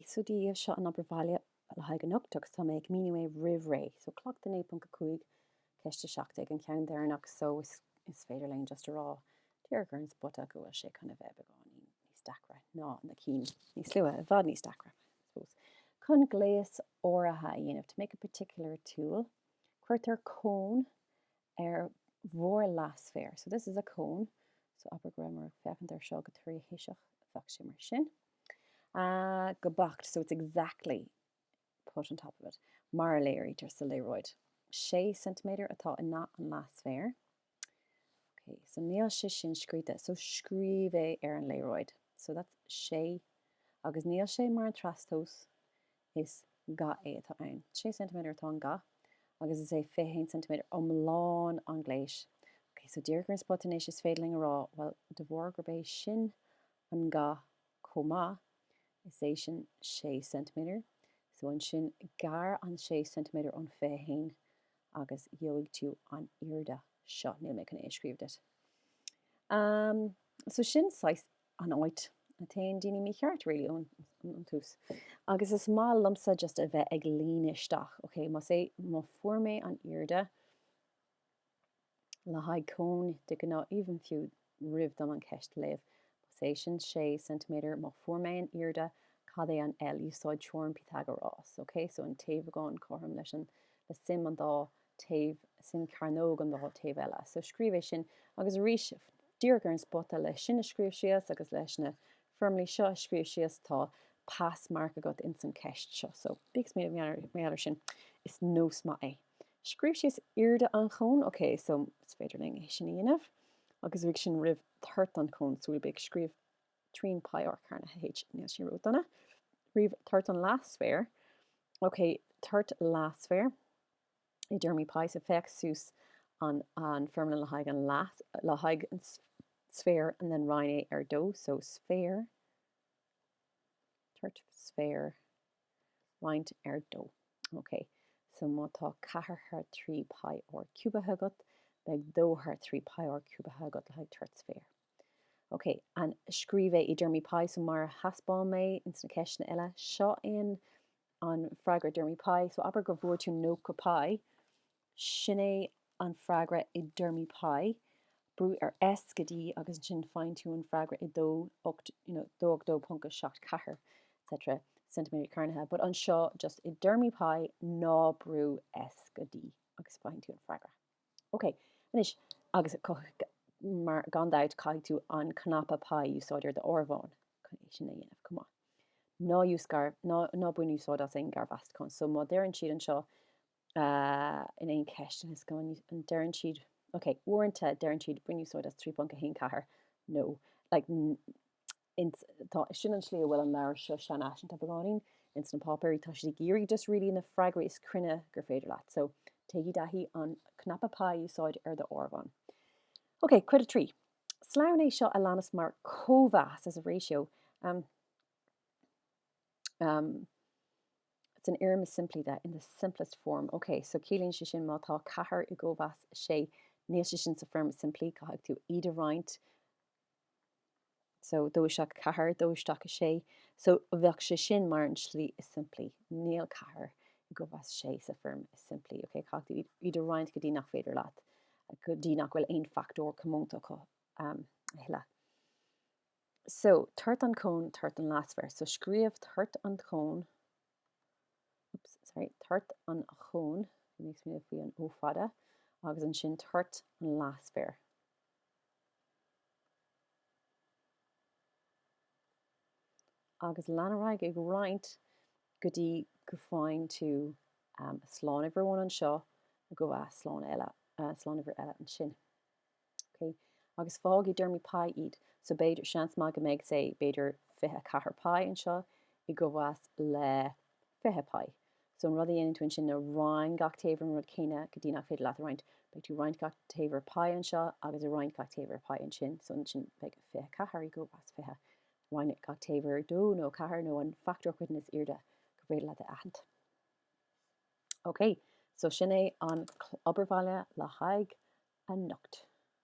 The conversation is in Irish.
So Dia dhaoibh, seo an obair bhaile le haghaidh anocht agus tá mé ag míniú é roimh ré. So cleachtadh 9.5, ceist 17 an ceann deireanach so is is féidir linn just a rá díreach ar an spota go bhfuil sé chun a bheith beagáinín níos deacra ná na cinn níos luaithe, i bhfad níos deacra I suppose. Chun gléas áirithe a dhéanamh, to make a particular tool, cuirtear cón ar bharr leathsféar. So this is a cone. So abair go rabhamar ag féachaint ar seo go tríthoiseach bheadh sé mar sin. Ah, go beacht, so it's exactly put on top of it, mar a léirítear sa léaráid. Sé ceintiméadar atá i nga an leathsféir. Ok, so níl sé sin scríte, so scríobh é ar an léaráid. So that's sé, agus níl sé mar an trastomhas, Is ga é atá ann. 6 ceintiméadar atá an ga agus is é 21 ceintiméadar iomlán an ghléis. Ok, so díreach ar an spota anois is féidir linn a rá, bhuel, de bharr gurb é sin an ga chomh maith, is é sin 6 ceintiméadar, so ansin gearr an 6 ceintiméadar ón 21 agus gheobhaidh tú an airde seo. Níl mé chun é a scríobh duit. Um, so sin saghas an áit a téann daoine mícheart really ón tús agus is maith liomsa just a bheith ag líonadh isteach ok más é má fuair mé an airde le haghaidh cóin de ghnáth even fiú roimh dom an ceist léamh más é sin 6 cm má fuair mé an airde cad é an L úsáid teoirim Pythagoras ok so an taobhagán cothrom leis an le suim an dá taobh, suim cearnóg an dá taobh eile. So scríobh é sin agus arís díreach ar an spota leis sin a scríobh síos agus leis na foirmlí seo a scríobh síos tá pass mark agat ins an ceist seo. So bíodh mé méall ar sin. Is nós maith é. Scríobh síos airde an chóin, ok, so is féidir linn é sin a dhéanamh agus uaidh sin ríomh toirt an chóin, so bí ag scríobh trian pi r cearnaithe h, níl sin ró dona. Ríomh toirt an leathsféir, ok, toirt leathsféir. I dtéarmaí pi, so féach suas an foirmle le haghaidh an le haghaidh an sféar and then roinn é ar 2 so sféar toirt sféir roinnte ar 2 ok so má tá 4 thar 3 pi r ciúbaithe agat beidh 2 thar 3 pi r ciúbaithe agat le haghaidh toirt sféir ok and scríobh é i dtéarmaí pi so mar a thaispeáin mé ins na ceisteanna eile seo é an An freagra i dtéarmaí pi, so abair go bhfuair tú 90 pi, sin é an freagra i dtéarmaí pi, brúigh ar S go D agus ansin faigheann tú an freagra i dó ocht, you know, dó ocht dó ponc a seacht ceathair etc. ceintiméadar cearnaithe, but anseo just i dtéarmaí pi ná brúigh S go D agus faigheann tú an freagra. Ok, anois, agus co- mar gan dabht caithfidh tú an cnaipe pi a úsáid ar do áireamhán chun é sin a dhéanamh chomh maith. Ná use gar-, ná, ná bain úsáid as aon garmheastachán. So má deireann siad anseo uh, in aon cheist anois go ndeireann siad, ok, uaireanta deireann siad bain úsáid as 3.14 nó like ins tá sin an slí a bhfuil an leabhar seo seanfhaiseanta beagáinín ins na páipéirí tá siad ag iarraidh just really na freagraí is cruinne gur féidir leat so téigí i dtaithí an cnaipe pi a úsáid ar do áireamhán Ok, cuid a trí. Sloinn é seo a leanas mar cóimheas as a ratio. Um, um, san fhoirm is simplí that's in the simplest form. Ok, so ciallaíonn sé sin má tá ceathair i gcóimheas sé níl sé sin sa foirm is simplí caithfidh tú iad a roinnt so dó isteach i gceathair, dó isteach i sé so bheadh sé sin mar an slí is simplí, níl ceathair i gcóimheas sé sa foirm is simplí, ok, caithfidh tú iad a roinnt go dtí nach féidir leat, go dtí nach bhfuil aon fachtóir comónta acu a thuilleadh. So toirt an chóin, toirt an leathsféir, so scríobh toirt an chóin, oops sorry toirt an chóin it makes me faoi an ó fada agus ansin toirt an leathsféir. Agus lean ar aghaidh ag roinnt go dtí go faigheann tú um, slánuimhir amháin anseo go bhfuil slánuimhir eile, uh, slánuimhir eile ansin. OK, agus fágaigí i dtéarmaí pi iad. So b'fhéidir, seans maith go mbeidh, sé, b'fhéidir fiche a ceathair pi anseo i gcóimheas le fiche pi. So an rud a dhéanann tú ansin ná roinn gach taobh ar an rud céanna go dtí nach féidir leat a roinnt. Beidh tú ag roinnt gach taobh ar pi anseo agus ag roinnt gach taobh ar pi ansin. So ansin beidh fiche a ceathair i gcóimheas fiche. Roinn gach taobh ar dó nó ceathair nó an fachtóir coiteann is airde gur féidir leat a aithint. Ok, so sin é an obair bhaile le haghaidh anocht.